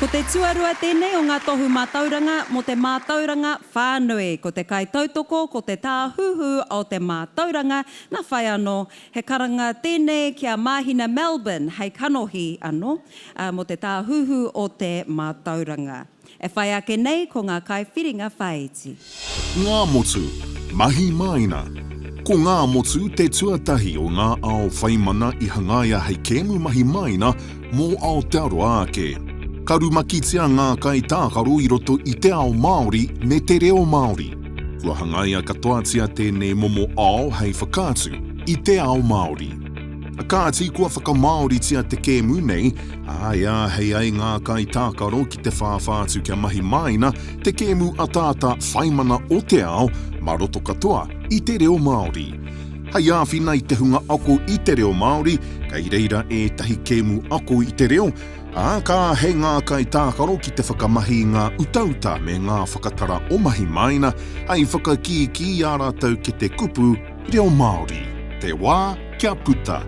Ko te tuarua tēnei o ngā tohu mātauranga mō te mātauranga whānui. Ko te kaitautoko, ko te tāhuhu o te mātauranga, nā whai anō. He karanga tēnei ki a Māhina Melbourne hei kanohi anō mō te tāhuhu o te mātauranga. E whai ake nei ko ngā kaiwhiringa whāiti. Ngā motu, mahi māina Ko Ngā Motu te tuatahi o ngā ao whai mana i hangaia hei kēmu mahi māina mō Aotearoa ake. Ka rumakitia ngā kaitākaro i roto i te ao Māori me te reo Māori. Kua hangaia katoatia tēnei momo ao hei whakaatu i te ao Māori. Kāti, kua whakamāoritia te kēmu nei, ā, e āhei ai ngā kaitākaro ki te whāwhā atu kia mahi māina te kēmu ataata whaimana o te ao mā roto katoa i te reo Māori. Hei āwhina i te hunga ako i te reo Māori, kei reira ētahi kēmu ako i te reo, ā, ka āhei ngā kaitākaro ki te whakamahi i ngā utauta me ngā whakatara o mahi māina, hei whakakīkī i ā rātou kete kupu, Reo Māori, te wā kia puta!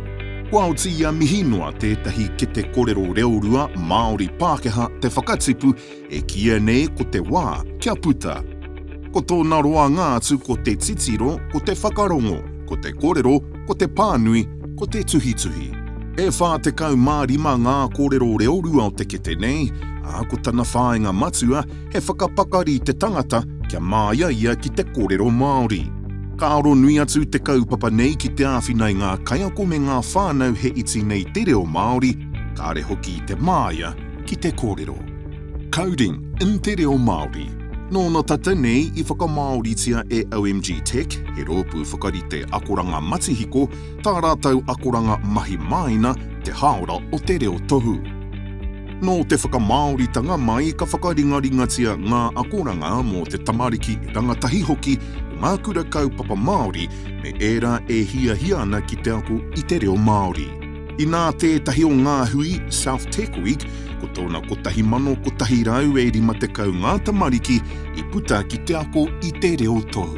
Kua oti ia mihi noa tētahi kete korero reorua Māori-Pākehā te whakatipu e kīia nei ko te wā kia puta. Ko tōna roanga atu ko te titiro, ko te whakarongo, ko te korero, ko te pānui, ko te tuhituhi. E 45 ngā korero reorua o te kete nei, ā, ko tana whāinga matua, he whakapakari te tangata kia māia ia ki te kōrero Māori. Ka aro nui atu te kaupapa nei ki te āwhina i ngā kaiako me ngā whānau he iti nei te reo Māori, kāre hoki i te māia ki te kōrero. Coding in te reo Māori Nōna tata nei i whakamāoritia e OMG Tech, he rōpū whakarite akoranga matihiko, tā rātou akoranga mahi māina, te hāora o te reo tohu. Nō te whakamāoritanga mai ka whakaringaringatia ngā akoranga mō te tamariki rangatahi hoki o ngā kura kaupapa Māori me ērā e hiahia ana ki te ako i te reo Māori. Inā tētahi o ngā hui, South Tecklewick, ko tōna 1,150 ngā tamariki i puta ki te ako i te reo tou.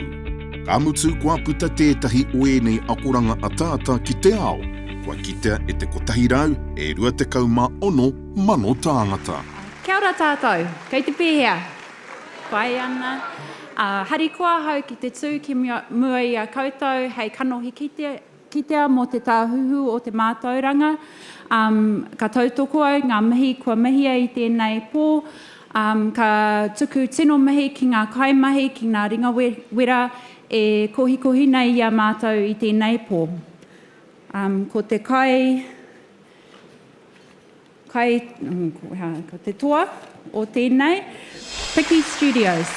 Ka mutu kua puta tētahi o ēnei akoranga ataata ki te ao. Kua kitea e te 100 e 26 mano tāngata. Kia ora tātou, kei te pēhea? Pai ana. Harikoa ahau ki te tū ki mua i a koutou hei kanohi kitea mō te Tāhuhu o te Mātauranga. Ka tautoko au ngā mihi kua mihia i tēnei pō. Ka tuku tino mihi ki ngā kaimahi, ki ngā ringawera e kohikohi nei i a mātou i tēnei pō. Um, ko te kai, kai, mm, ko, ha, ko te toa o tēnei, Piki Studios.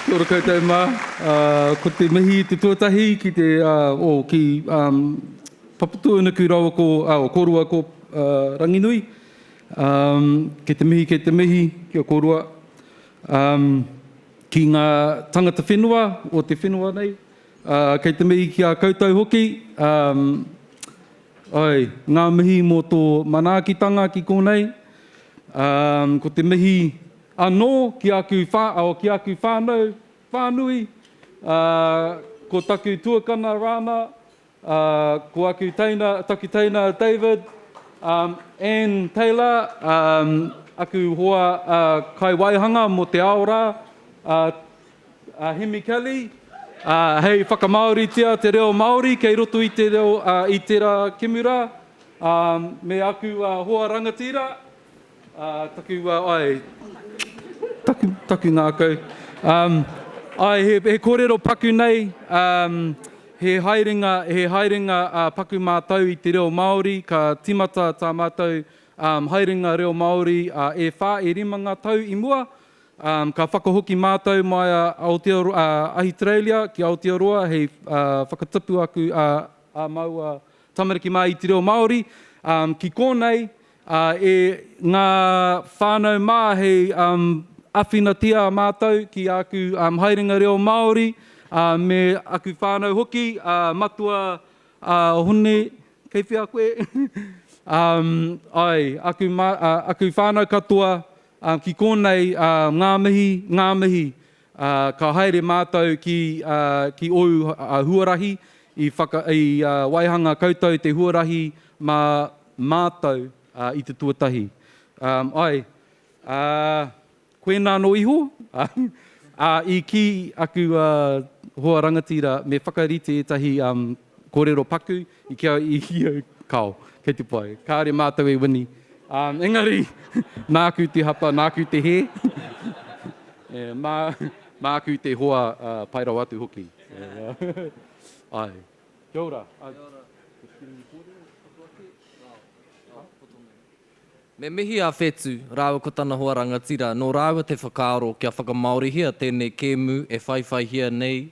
Kia ora koutou mā. Uh, ko te mihi te tuatahi ki te, uh, o, ki um, Papatūanuku rawa ko, uh, o Korua ko uh, Ranginui. Um, ke te mihi, ke te mihi, kia korua. Um, ki ngā tangata whenua o te whenua nei, Ā, kei te mihi ki a koutou hoki, ā, ae, ngā mihi mō tō manaakitanga ki konei, ā, ko te mihi anō ki aku whā, oh, ki aku whānau whānui, ā, ko taku tuakana Rana, ā, ko aku teina, taku teina David, ā, Anne Taylor, ā, aku hoa, ā, kaiwaihanga mō te ao rā, ā, a Hemi Kelly, ā, hei whakamāoritia te reo Māori kei roto i te reo, ā, i tērā kimura, ā, me aku, ā, hoa rangatira, ā, taku, ā, āe, taku, taku ngākau, ā, āe, he, he kōrero paku nei, ā, he haerenga, he haerenga, ā, paku mātau i te reo Māori, ka tīmata tā mātau, ā, haerenga reo Māori, ā, e whā, e rima ngā tau i mua, Ka whakahoki mātou mai a Ahitereiria ki Aotearoa hei whakatipu aku ā māua tamariki mā i te reo Māori. Ki kōnei, e ngā whānau mā hei āwhinatia mātou ki āku haerenga reo Māori me aku whānau hoki, Matua Hone, kei whea koe? Āe, aku whānau katoa Ā, ki kōnei, ā, ngā mihi, ngā mihi, ā, ka haere mātou ki, ā, ki ōu, ā, huarahi, i whaka, i, ā, waihanga koutou te huarahi mā mātou, ā, i te tuatahi. Ā, āe, ā, koinā anō iho, ā, ā, i kī aku, ā, hoa rangatira me whakarite ētahi, ā, kōrero paku, I kī a ia, Kāo, kei te pai. Kāore mātou e wini. Ā, engari, nāku te hapa, nāku te hē. E, mā, māku te hoa, ā, pai rawa atu hoki. E, āe. Kia ora. Kia ora. Te Whiringi Kōrero, tapu ake. Kāo, kāo, poto nei. Me mihi a Whetu rāua ko tana hoa rangatira nō rāua te whakaaro kia whakamāorihia tēnei kēmu e whaiwhaihia nei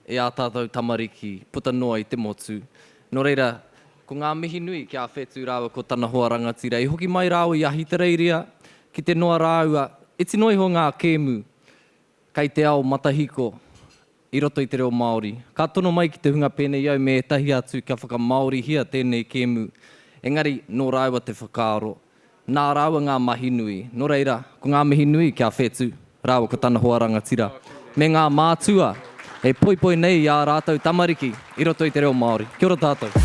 e ā tātou tamariki puta noa i te motu. Nō reira, ko ngā mihi nui ki a Whetu rāua ko tana hoa rangatira i hoki mai rāua i Ahitereiria ki te noa rāua, iti noa iho ngā kēmu kei te ao matahiko i roto i te reo Māori. Ka tono mai ki te hunga pēnei au me ētahi atu kia whakamāorihia tēnei kēmu, engari nō rāua te whakaaro, nā rāua ngā mahi nui. Nō reira, ko ngā mihi nui ki a Whetu rāua ko tana hoa rangatira, me ngā mātua e poipoi nei i ā rātou tamariki i roto i te reo Māori. Kia ora tātou.